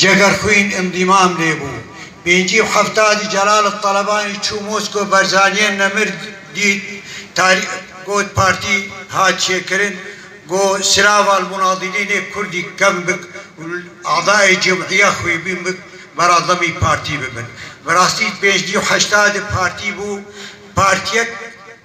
Cegerxwîn Îmdîmam lê bû. Pêncî û heftadî Celal Talebanî çû Moskow Berzaniyên Nemir dît tarî got partî hat çêkirin got Siraval Munadîlî nê Kurdî kevn bik û adayê cemûîya xwîbîn bik vera demî partî bibin. Bi rastî pêncî û heştadî partî bû partiyek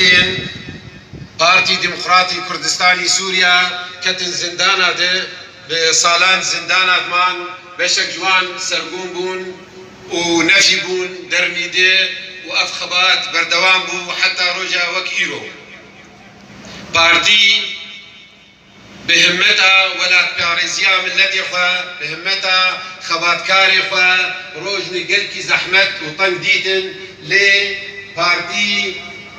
Yên Partî Demokratî Kurdistanî Sûriya ketin zindana de bi salan zindana diman, beşek ji wan sergûm bûn û nefî bûn dermî de û ev xebat berdewam bû heta roja wek îro. Partî. Bi himmeta welatparêziya milletê xwe, bi himmeta xebatkarê xwe roj ne gelkî zehmet û teng dîtin lê partî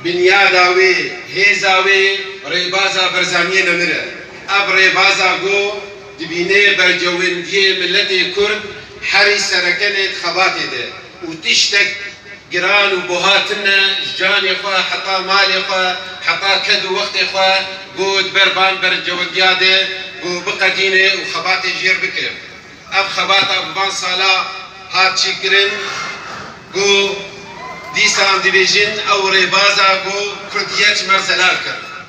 binyada wê, hêza wê rêbaza Berzaniyê nemir e. Ev rêbaza ku dibînê bercewendiyê milletê Kurd herî serekenê di xebatê de û tiştek giran û buha tune ji canê xwe heta malê xwe heta ked û wextê xwe got ber van berincewendiya de ku biqedîne û xebatê jêr bike. Ev xebata bi van sala hat çîkirin ku dîsan dibêjin ew rêbaza ku Kurd yeç me zelal kir.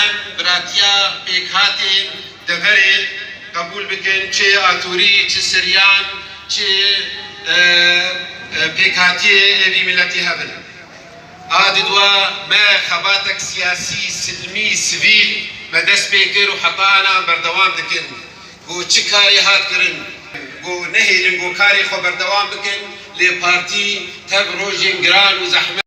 Em biratiya pêkhatên deverê qebûl bikin, çi atorî, çi siryan, çi pêkhatiyê êvî miletî hebin. A didwa me xebatek siyasî, silmî, sivîl me dest pê kir û heta anan berdewam dikin. Ku çi karê hat kirin, ku nehêlin ku karê xwe berdewam bikin lê partî tev rojên giran û zehmet.